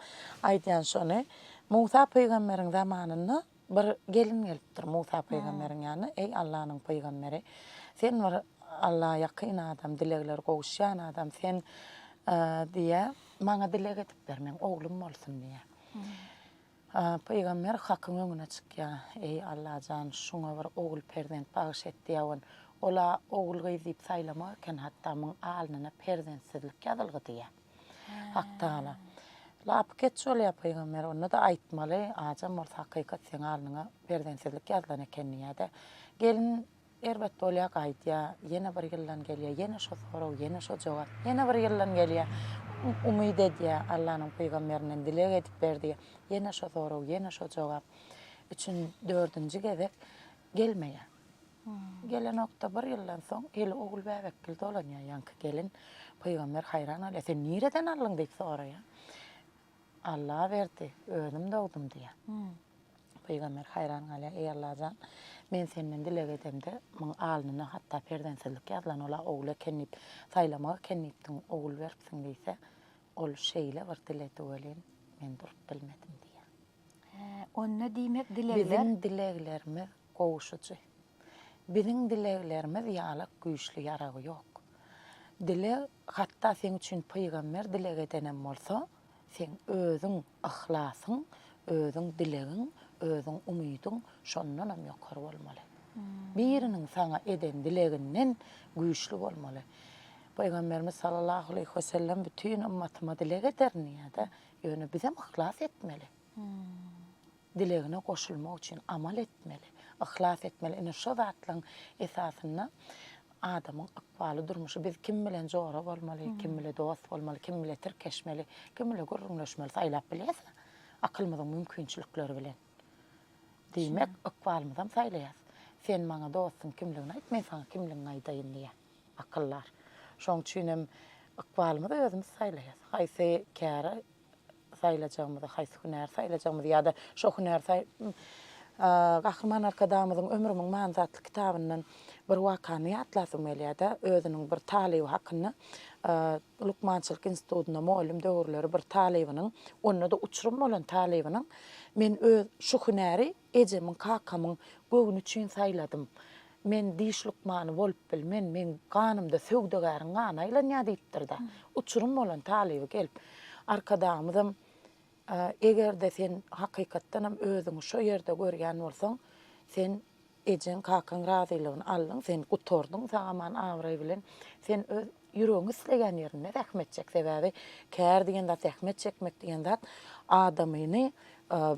aýdýan şony Musa pygamberiň zamanynda bir gelin gelipdir Musa pygamberiň ýanyna eý Allanyň pygamberi sen bir Alla ýakyn adam dilegler gowuşýan adam sen diýýär maňa dileg edip ber meň oglum bolsun diýýär. Pygamber Hakyň öňüne çykýar, Eý, Allajan, şuňa bir ogul perzent bagyş et diýäwin. Ol-a ogul-gyz diýip saýlamak eken, hatda muň alnyna perzentsizlik ýazylgy diýýär. Hak Tagala, Lapykeç bolýar, pygamber, onda-da aýtmaly, ajam bolsa hakykat seň alnyňa perzentsizlik ýazylan eken diýýär-de, gelin Erbet bolýar, gaýdýar. Ýene bir ýyldan gelýär. Ýene şo sorag, ýene şo jogap. Ýene bir ýyldan gelýär. Umyt edýär, Allanyň pygamberinden dileg edip ber diýýär. Ýene şo sorag, ýene şo jogap. Üçin, dördünji gezek gelmeýär. Gelenok-da, bir ýyldan soň Eli ogul bäbekgil dolanýar. Ýaňky gelin pygamber haýran galýar. Sen nireden aldyň diýip soraýar. Alla berdi, özüm dogdum diýýär. Pygamber haýran galýar, Eý Allajan, men senden dileg edemde, muň alnyna hatda perzensizlik ýazylan, ol-a ogul eken diýip, saýlamak eken diýipdiň, ogul beripsiň diýse, ol şeýle bir diledi welin, men durup bilmedim diýýär. Hä, onda diýmek dilegler. Biziň dileglerimiz gowuşyjy. Biziň dileglerimiz ýalak güýçli ýaragy ýok. Dileg Hatda seň üçin pygamber dileg edenem bolsa, seň özüň yhlasyň, özüň dilegiň, özüň umydyň şondanam ýokary bolmaly. Biriniň saňa eden dileginden güýçli bolmaly. Pygamberimiz sallallahu aleýhi we sellem bütin ymmatyma dileg ederin diýýär-de, ýöne bizem yhlas etmeli. dilegine goşulmak üçin amal etmeli, yhlas etmeli. Ine şo zatlaryň esasynda adamyň ykbaly, durmuşy. Biz kim bilen jora bolmaly, kim bile dost bolmaly, kim bile tirkeşmeli, kim bile gürrüňleşmeli saýlap bilýäs-le, akylymyzyň mümkinçilikleri bilen. Diýmek, ykbalymyzam saýlaýas. Sen maňa dostuň kimligini aýt, men saňa kimligiňi aýdaýyn diýýär akyldar. Şoň üçin hem ykbalymyzy özümiz saýlaýas. Haýsy käri saýlajagymyzy, haýsy hünäri saýlajagymyzy ýa-da şo hünäri saý Gahryman Arkadagymyzyň Ömrümiň manysy atly kitabyndan bir wakany ýatlasym gelýär-de, özüniň bir talyby hakynda lukmançylyk institutynda mugallym döwürleri bir talybynyň, onda-da uçurym bolan talybynyň, Men öz şu hünäri Ejemiň, kakamyň göwni üçin saýladym. Men diş lukmany bolup bilmen, meň ganymda söwdagäriň gany aýlanýar diýipdir-de. Uçurym bolan talyby gelip, Arkadagymyzam, Eger-de sen hakykatdan hem özüňi şo ýerde görýän bolsaň, sen ejeň, kakaň razylygyny aldyň, sen gutardyň sag-aman, abraý bilen. Sen öz Ýüregiň isleýän ýerinde zähmet çek, sebäbi kär diýen zat, zähmet çekmek diýen zat adamyny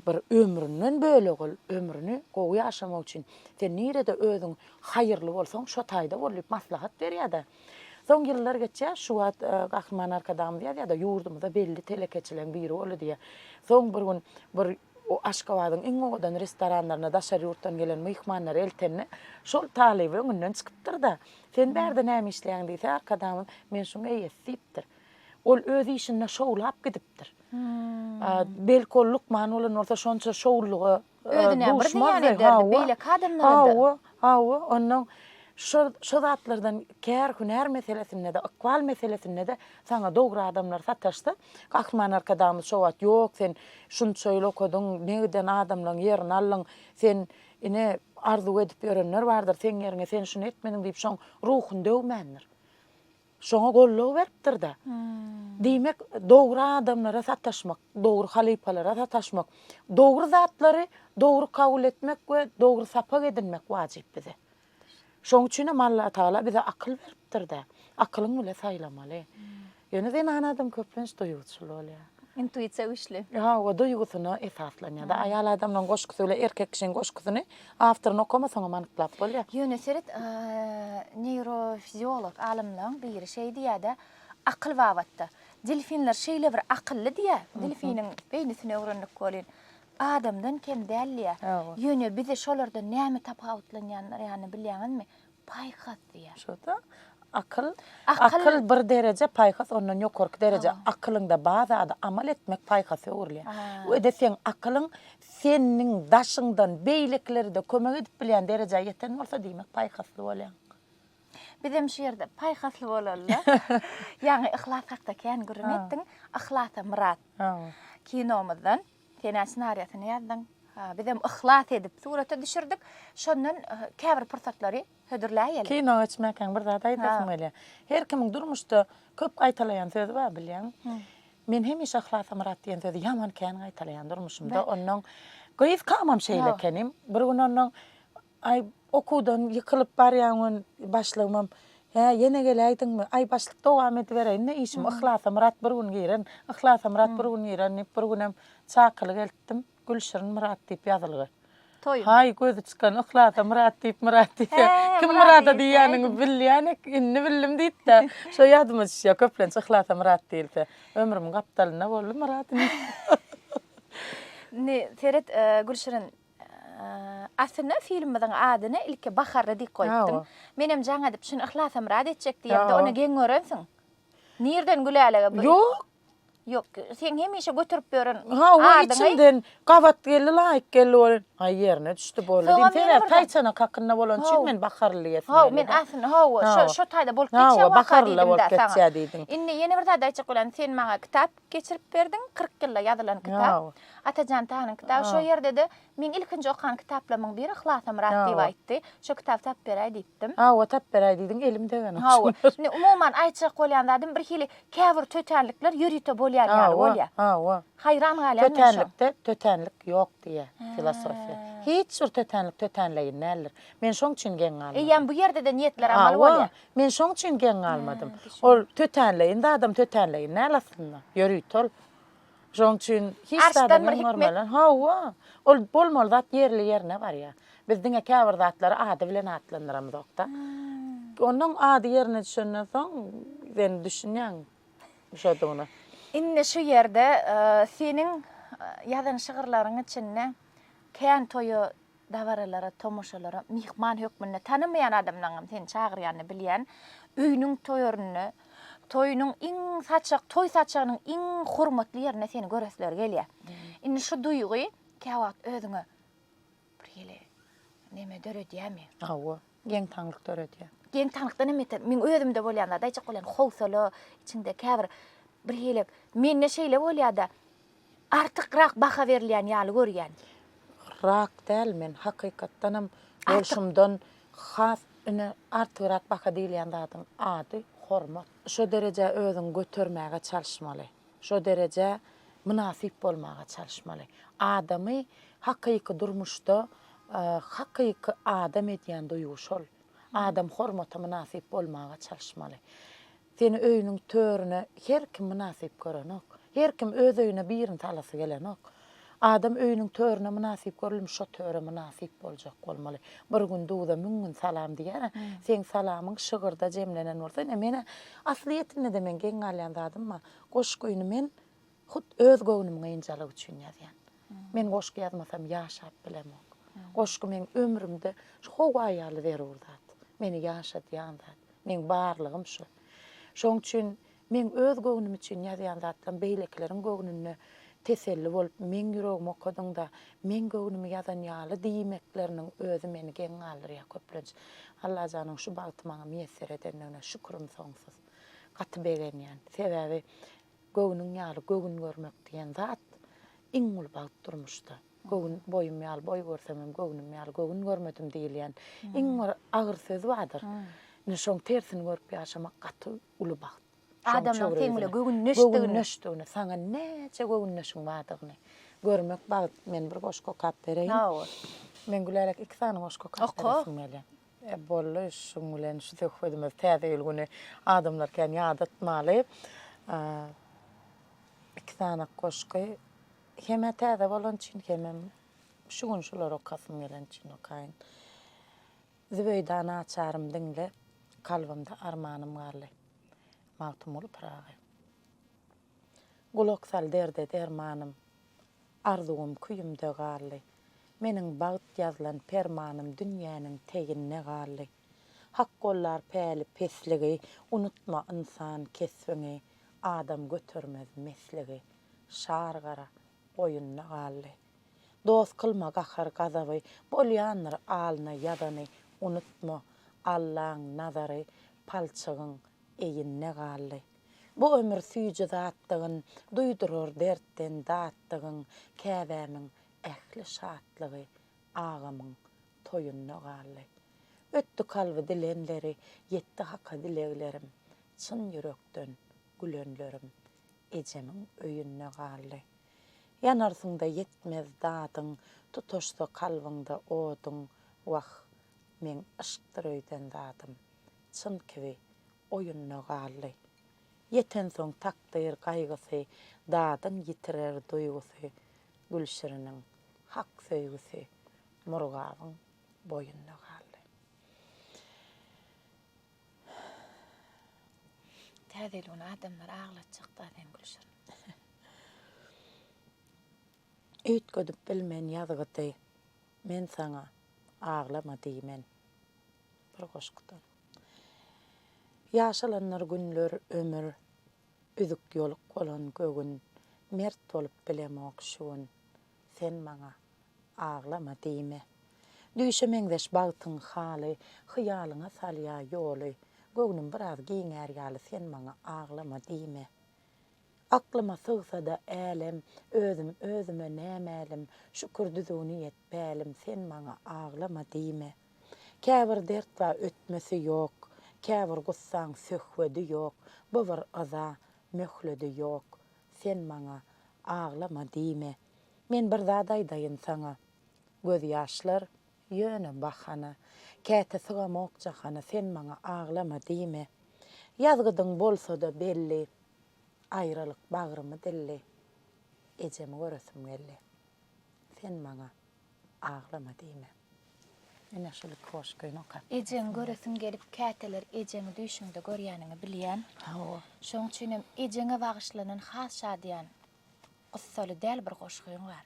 bir ömründen bölegi ol. Ömrüni gowy ýaşamak üçin sen nirede özüň haýyrly bolsaň, şo taýda bol diýip maslahat berýär-de. Soň ýyllar geçýär, şu wagt Gahryman Arkadagymyz ýazýar-da, ýurdumyzda belli telekeçileriň biri boldy diýýär. Soň bir gün bir Aşgabadyň iň owadan restoranlaryna daşary ýurtdan gelen myhmanlary eltende, şol talyby öňünden çykypdyr-da, Sen bärde näme işleýäň diýse, Arkadagymyz men şuň eýesi diýipdir. Ol öz işinde şowlap gidipdir. Belki ol lukman bolan bolsa şonça şowlulyga Özüne bir zyýan ederdi, beýleki adamlara-da. Hawa, hawa, onnoň şo şo zatlardan kär hünär meselesinde-de, ykbal meselesinde-de saňa dogry adamlar sataşsa, Gahryman Arkadagymyz şo wagt ýok sen şunça ýyl okadyň, ne giden adamlaryň ýerini aldyň, sen Ine, arzuw edip ýörenler bardyr, seň ýeriňe sen şuny etmediň diýip şoň ruhuny döwmändir. Şoňa goldaw beripdir-de. Diýmek, dogry adamlara sataşmak, dogry halypalara sataşmak, dogry zatlary dogry kabul etmek we dogry sapak edinmek wajyp bize. Şoň üçinem Allatagala bize akyl beripdir-de, akylyň bile saýlamaly. Ýöne zenan adam köplenç duýguçyl bolýar. Intuisiýa güýçli. Hawa, duýgusyna esaslanýar-da. Aýal adamlaryň goşgusy bilen erkek kişiň goşgusyny awtoryny okamasaňam anyklap bolýar. Ýöne seret, neýrofiziolog alymlaň biri şeý diýýär-de, akyl babatda, Delfinler şeýle bir akylly diýýär, delfiniň beýnisini öwrendik welin, adamdan kem däldiýä. Ýöne bizi şolardan näme tapawutlanýandyr ýany bilýäňizmi? Paýhas diýä. Şo-da. Akyl, akyl bir dereje, paýhas ondan ýokarky dereje. Akylyňda bar zady amal etmek paýhasa öwrülýär. Öde seň akylyň seniň daşyňdan beýlekilere-de kömek edip bilýän derejä ýeten bolsa, diýmek paýhasly bolýaň. Bizem şu ýerde paýhasly bolaly-da. Ýaňy yhlas hakda kän gürrüň etdiň. Yhlasa Myrat kinomyzdan. Senä ssenariýasyny ýazdyň. Bizem yhlas edip surata düşürdik. Şondan käbir pursatlary hödürläýeli. Kino geçmäkäň bir zat aýdasym gelýär. Her kimiň durmuşda köp gaýtalaýan sözi bar bilýäňmi? Men hemişe Yhlasamyrat diýen sözi ýaman kän gaýtalaýan durmuşymda. Onnoň gyz kamam şeýle ekenim. Bir gün onnoň Aý, okuwdan ýykylyp barýan gün başlygymam, Hä, ýene geläýdiňmi? Aý, başlyk dowam edibereýin-dä işim, Yhlasamyrat bir gün giren, Yhlasamyrat bir gün giren diýip, bir günem çakylyk eltdim, Gülşirin Myrat diýip ýazylgy. Toýun. Haý, gözi çykan Yhlasa Myrat diýip Myrat diýse, kim Myrada diýýänini bilýänik, indi bildim diýip-de, şo ýadyma düşýär, köplenç Yhlasa Myrat diýilse. Ömrümiň gapdalynda boldy Myrat indi. Indi seret, Gülşirin, Aslynda filmimiziň adyny ilki Baharly diýip goýupdym. Menem jaň edip şuny Yhlasymyrat etjek diýemde ony geň görensiň. Nirden Gülälege bu? Ýok. Ýok, seň hemişe göterip ýören adyňy. Ha, o içimden gabat geldi, laýyk geldi ol. Aý ýerine düşdi bu ol. Sebäbi taýçanak hakynda bolan üçin men Baharly diýesim geldi. Hawa, men aslynda hawa, şo taýda bolup geçýär waka diýdim-de saňa. Indi ýene bir zat aýtjak bolan, sen maňa kitap Geçirip berdiň, kyrk ýylda ýazylan kitap. Atajan Tanyň kitaby şo ýerde-de meň ilkinji okan kitaplarymyň biri Yhlasymyrat diýip aýtdy. Şo kitaby tapyp beräý diýipdim. Hawa, tapyp beräý diýdiň, elim degeni. Hawa. Indi umuman aýtjak bolýan zadym birhili käbir tötänlikler ýörite bolýan ýaly bolýar. Hawa. Haýran galýan men şoňa. Tötänlikde tötänlik ýok diýýär filosofiýa. Hiç bir tötänlik tötänleýin däldir. Men şoň üçin geň galmadym. Eýýäm bu ýerde-de niýetler amal bolýar. Hawa, Men şoň üçin geň galmadym. Ol tötänleýin zadam tötänleýin däl aslynda. Ýörite ol. Şoň üçin hiç zada geň görmeli. Hawa. Ol bolmaly zat ýerli-ýerine barýar. Biz diňe käbir zatlary ady bilen atlandyramyzok-da. Onuň ady ýerine düşenden soň sen düşünýäň şodugyna. Indi şu ýerde seniň ýazan şygyrlaryň içinde Kän toýa Dabaralara, tomaşalara myhman hökmünde tanamaýan adamlaňam seni çagyrýanyny bilýän öýüniň toýarynda, toýunyň iň saçak, toý saçagynyň iň hormatly ýerinde seni göresleri gelýär. Indi şu duýgy käwagt özüňe bir hili neme döredýärmi? Hawa, geň-taňlyk döredýär. Geň-taňlykdan hem beter, meň özümde bolýan zat aýtjak bolýan howsala, içiňde käbir bir hili, mende şeýle bolýar-da, Artykrak baha berilýän ýaly görýän. Rak däl men hakykatdanam bolşumdan has ine artygrak baha diýilýän zadyň ady hormat. Şo derejä özüňi götermäge çalyşmaly. Şo derejä mynasyp bolmaga çalyşmaly. Adamy hakyky durmuşda hakyky adam edýän duýgy şol. Adam hormata mynasyp bolmaga çalyşmaly. Seni öýüniň törüne her kim mynasyp görenok. Her kim öz öýüne birini salasy gelenok. Adam öýüniň törüne mynasyp görülmiş şo töre mynasyp boljak bolmaly. Bir gün duza müň gün salam diýer-ä. Seň salamyň şygyrda jemlenen bolsa, ine men-ä aslyýetinde-de men geň galýan zadym bar. Goşgyny men Hut öz göwnüm gynjalyk üçin ýazýan. Men goşgy ýazmasam ýaşap bilemok. Goşgy meň ömrümde şu howa ýaly zerur zat. Meni ýaşadýan zat. Meň barlygym şu. Şoň üçin meň öz göwnüm üçin ýazýan zatlarym beýlekileriň göwnüne teselli bolup, meň ýüregimi okadyňda, meň göwnümi ýazan ýaly diýmekleriniň özi meni geň galdyrýar köplenç. Allajanyň şu bagty maňa miýesser edendigine şükrim soňsuz. Gaty begenýän. Sebäbi Göwnüň ýaly göwün görmek diýen zat iň uly bagt durmuşda. Göwün boýum ýaly boý görsemem, göwnüm ýaly göwün görmedim diýilýän iň bir agyr söz bardyr. Ine, şoň tersini görüp ýaşamak gaty uly bagt. Adamlaryň seň bilen göwündeşdigini. Göwündeşdigini, saňa näçe göwündeşiň bardygyny görmek bagt. Men bir goşgy okap bereýin. Hawa. Men Gülälek iki sany goşgy okap beresim gelýär. E bolly şuň bilen şu söhbedimizi täze ýyl güni adamlar kän ýadatmaly. Iki sany goşgy hem-ä täze bolan üçin hemem şu gün şulary okasym gelen üçin okaýyn. Zübeýda naçarym diňle, kalbymda armanym garly. Magtymguly Pyragy. Gulak sal derde dermanym. Arzuwym küýümde galdy. Meniň bagt ýazlan permanym dünýäniň teginde galdy. Hak gollar päli pesligi, unutma ynsan kesbiňi, adam götermez mesligi, şar gara goýunda galdy. Dost kylma gahar-gazaby, bolýandyr alna ýazany, unutma, Allaň nazary palçygyň eýinde galdy. Bu ömür süýji zatdygyn, Duýdurar dertden datdygyn, Käbämiň ähli şatlygy Agamyň toýunda galdy. Ötdi kalby dilenleri, Ýetdi Haka dileglerim, Çyn ýürekden gülenlerim Ejemiň öýünde galdy. Ýanarsyň-da ýetmez dadyň, Tutaşsa kalbyňda oduň, Wah, meň yşkdyr öýden zadym, Çyn kibi oýunda galdy. Ýetensoň takdyr gaýgysy, dadyn ýitirer duýgusy, Gülşiriniň hak söýgüsi Murgabyň boýunda galdy. Täze ýyl güni adamlary aglatjak zat hem Gülşirin. Üýtgedip bilmen ýazgydy, men saňa aglama diýmen. Bir goşgudan. Ýaşalandyr günler ömür Üzük ýoluk bolan göwün Mert bolup bilemok şu gün Sen maňa aglama diýme Düýşe meňzeş bagtyň haly Hyýalyňa salýa ýoly Göwnüm biraz giňär ýaly Sen maňa aglama diýme Aklyma sygsa-da älem, Özüm özüme nämälim, Şükür düzgüni et pälim, Sen maňa aglama diýme. Käbir dert bar ötmesi ýok, Käbir gussaň söhbedi ýok, Bu bir yza möhledi ýok, Sen maňa aglama diýme. Men bir zat aýdaýyn saňa, Gözýaşlar Ýöne, bahana, käte sygamok jahana Sen maňa aglama diýme. Ýazgydyň bolsa-da belli, Aýralyk bagrymy dilli, Ejemi göresim geldi. Sen maňa aglama diýme. Ine, şul iki goşgyny okap. Ejeňi göresim gelip, käteler ejeňi düýşüňde görýäniňi bilýän. Hawa. Şoň üçinem ejeňe bagyşlanan has şadyýan. Gussaly däl bir goşgyň bar.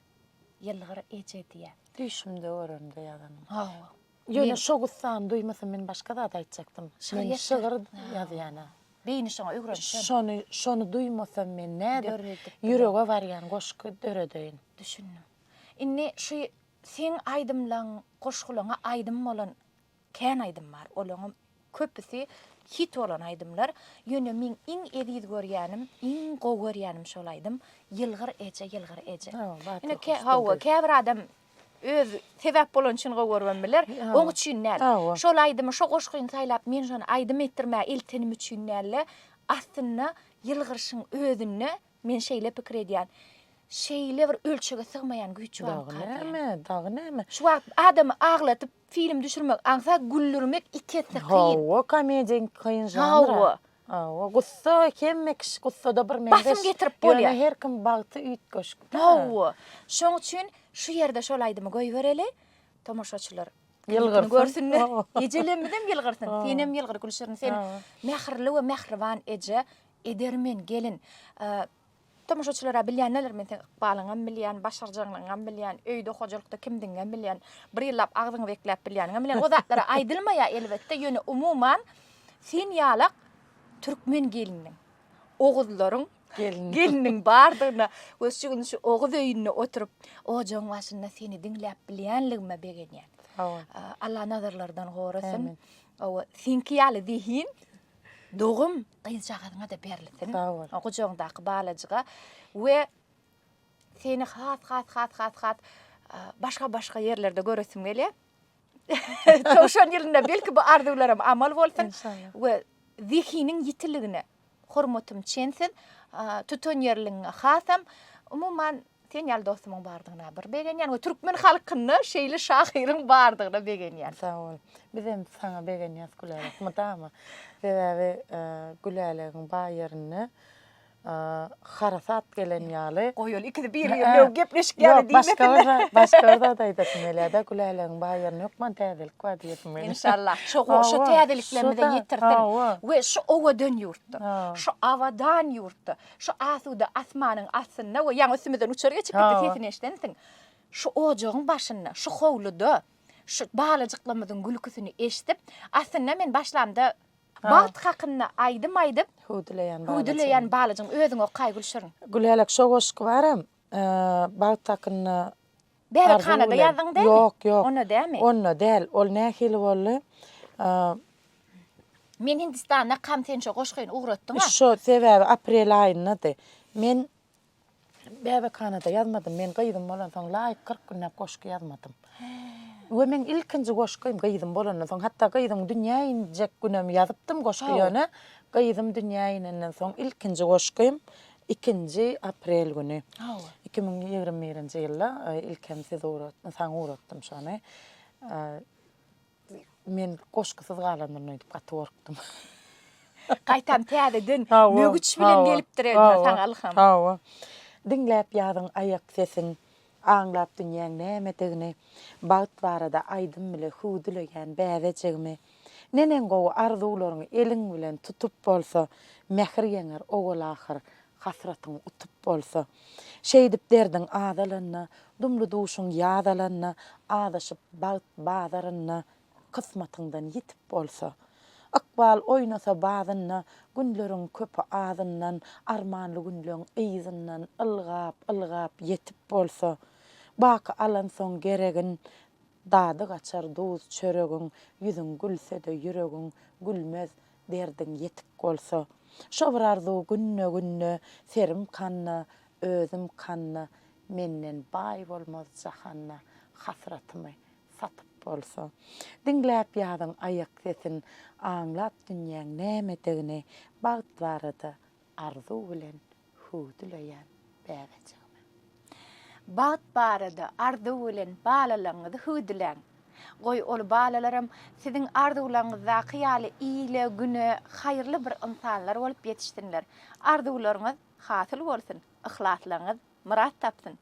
Ýylgyr eje diýä. Düýşümde göremde ýazanyň. Hawa. Ýöne şo gussany duýmasam men başga zat aýtjakdym. Men şygyr ýazýana. Beýni şoňa öwrenişen. Şony şony duýmasam men nädip ýürege barýan goşgy döredeýin. Düşündim. Indi şu seň aýdymlaň, goşgulaňa aýdym bolan Kän aýdym bar, olaňam köpüsi hit bolan aýdymlar, ýöne meň iň eziz görýänim, iň gowy görýänim şol aýdym, Ýylgyr eje, ýylgyr eje. Ine, hawa, käbir adam öz sebäp bolany üçin gowy görüp hem biler, oň üçin däl. Şol aýdymy, şo goşgyny saýlap, men şony aýdym etdirmäge eltenim üçin däl-de, aslynda ýylgyryşyň özünde Men şeýle pikir edýän. Şeýle bir ölçege sygmaýan güýç barmyka diýýän. Dagy näme, dagy näme. Şu wagt adamy aglatyp film düşürmek aňsa güldürmek iki esse kyn. Hawa, komediýa iň kyn žanr. Hawa. Hawa, gussa hemme kişi gussada bir meňzeş. Basym getirip bolýar. Ýöne her kim bagty üýtgeşik. Hawa. Şoň üçin şu ýerde şol aýdymy goýbereli. Tomaşaçylar ýylgyrsyn görsünler. Ejelerimiz hem ýylgyrsyn. Sen hem ýylgyr Gülşirin, sen mähirli we mähriban eje. Edermen, gelin. Tomaşaçylar-a bilýän neler, men seň ykbalyňam bilýän, başarjaňlygyňam bilýän, öýde, hojalykda kimdigiňem bilýän, bir ýyllap agzyňy bekläp bilýäniňem bilýän. O zatlar-a aýdylmaýar, elbetde, ýöne umuman, sen ýalak türkmen gelniniň, oguzlaryň gelniniň bardygyna we şu gün şu oguz öýünde oturyp, ojagyň başynda seni diňläp bilýänligime begenýän. Sag bol. Alla nazarlardan gorasyn. Ämin. Hawa, seňki ýaly zehin, dogum, gyzjagazyňa-da berlisin. Sag bol. O gujagyňdaky balajyga we seni has has has has has başga başga ýerlerde göresim gelýär. Towşan ýylynda belki bu arzuwlarym amal bolsun we zehiniň ýitiligine hormatym çensiz. Tutan ýerligiňe hasam umuman Sen ýaly dostumyň bardygyna bir begenýän we türkmen halkynda şeýle şahyryň bardygyna begenýän. Sag bol. Biz hem saňa begenýäs Gülälek mydama. Sebäbi Gülälegiň baý ýerinde harasat gelen ýaly. Goý ol ikisi biri bilen gepleşik ýaly diýmesinler. Başga bir başga bir zat aýdasym gelýär-de Gülälegiň baý ýerinde hökman täzelik bar diýesim gelýär. Inşallah şo goşa täzeliklerimizi ýetirsin we şu owadan ýurtda, şu abadan ýurtda Şu asuda asmanyň astynda we ýaňy üstümizden uçar geçip gitdi, sesini eşidensiň. Şu ojagyň başynda, şu howluda, şu balajyklarymyzyň gülküsini eşidip, aslynda men başlamda bagt hakynda aýdym aýdyp, hüwdüleýän balajygym özüň okaý Gülşirin. Gülälek şo goşgy baram. Bagt hakynda Bäbekhanada ýazdyň dälmi? Ýok, ýok. Onda dälmi? Onda däl. Ol nähili boldy? Men Hindistanda kam sen şo goşgyny ugratdyň-a. Şo sebäbi aprel aýyndady. Men Bäbekhanada ýazmadym. Men gyzym bolansoň laýyk kyrk günläp goşgy ýazmadym. We meň ilkinji goşgym gyzym bolandan soň, hatda gyzym dünýä injek günem ýazypdym goşgy ýöne gyzym dünýä inenden soň ilkinji goşgym ikinji aprel güni iki müň ýigrimi birinji ýylda ilkem siz saňa ugratdym şony. Men goşgusyz galandyr öýdüp gaty gorkdum. Gaýtam täzeden mögüç bilen gelipdir elmydama saňa ylham. Hawa. Diňläp ýazyň aýak sesin, aňlap dünýäň nämedigini, bagt barada aýdym bile hüwdüleýän bäbejigimi. Neneň gowy arzuwlaryňy eliň bilen tutup bolsa, mähir ýeňer owal-ahyr Hasratyň utup bolsa. Şeýdip derdiň azalanda, Dumly duşuň ýaz alanda, Azaşyp bagt bazarynda, Kysmatyňdan ýitip bolsa. Ykbal oýnasa bazynda, Günleriň köpi azyndan, Armanly günleň yzyndan, Ylgap, ylgap ýetip bolsa. Baky alansoň geregin, Dady gaçar duz çöregiň, Ýüzüň gülse-de ýüregiň, Gülmez, Derdiň ýetik bolsa. Şo bir arzuw günde günde Serim kanda, özüm kanda Menden baý bolmaz jahanda Hasratymy satyp bolsa. Diňläp ýazyň aýak sesin Aňlat dünýäň nämedigini Bagt barada Arzuw bilen hüwdüleýän bäbejigime. Bagt barada arzuw bilen balalaryňyzy hüwdüläň. Goý, ol balalaram siziň arzuwlaryňyzdaky ýaly ile, güne haýyrly bir ynsanlar bolup ýetişsinler. Arzuwlaryňyz hasyl bolsun, yhlaslaryňyz myrat tapsyn!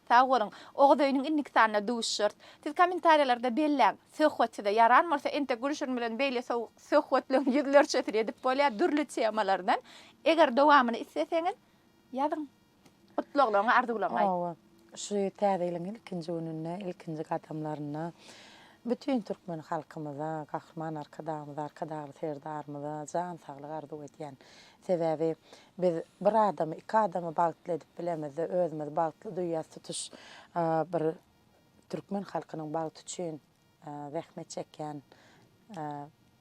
Sag boluň. Oguz öýüniň indiki sanynda duşuşarys. Siz kommentariýalarda belläň. Söhbet size ýaran bolsa entek Gülşirin bilen beýle sowuk söhbetleriň ýüzlerçesini edip bolýar dürli temalardan. Eger dowamyny isleseňiz ýazyň. Gutlaglaryňy arzuwlaňlaý. Owo. Şu täze ýylyň ilkinji gününde, ilkinji gadamlarynda bütin türkmen halkymyza, Gahryman Arkadagymyza, Arkadagly Serdarymyza jan saglyk arzuw edýän. Sebäbi biz bir adamy, iki adamy bagtly edip bilemizde, özümizi bagtly duýýas, tutuş bir türkmen halkynyň bagty üçin zähmet çekýän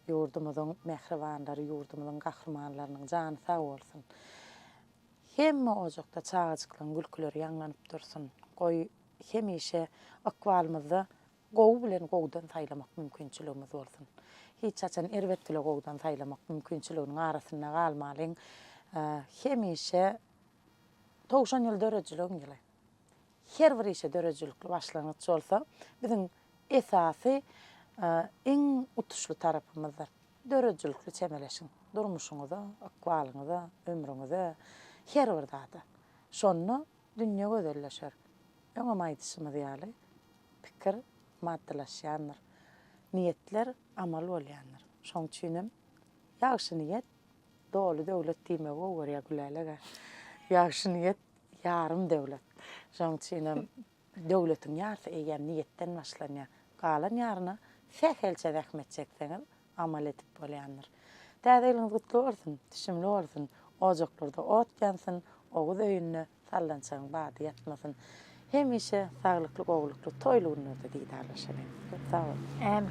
ýurdumyzyň mähribanlary, ýurdumyzyň gahrymanlarynyň jany sag bolsun. Hemme ojakda çagajyklaryň gülküleri ýaňlanyp dursun. Goý, hemişe ykbalymyzda Gowy bilen gowudan saýlamak mümkinçiligimiz bolsun. Hiç haçan erbet bile gowudan saýlamak mümkinçiliginiň arasynda galmalyň. Hemişe Togşan ýyly döredijiligiň ýyly. Her bir işe döredijilikli başlangyç bolsa, biziň esasy iň utuşly tarapymyzdyr. Döredijilikli çemeleşiň. Durmuşyňyza, ykbalyňyza, ömrüňize, her bir zada. Şonda Dünýe gözelleşer. Öňem aýdyşymyz ýaly, pikir maddylaşýandyr. Niýetler amal bolýandyr. Şoň üçinem ýagşy niýet doly döwlet diýmegi gowyberýär Gülälege. Ýagşy niýet ýarym döwlet. Şoň üçinem döwletiň ýarysy eýýäm niýetden başlanýar. Galan ýaryna sähelçe zähmet çekseňiz, amal edip bolýandyr. Täze ýylyňyz gutly bolsun, düşümli bolsun, ojaklarda ot ýansyn, oguz öýünde sallançagyň bady ýatmasyn. Hemişe saglykly, gowulykly, toýly günlerde didarlaşalyň. Köp sag boluň. Ämin.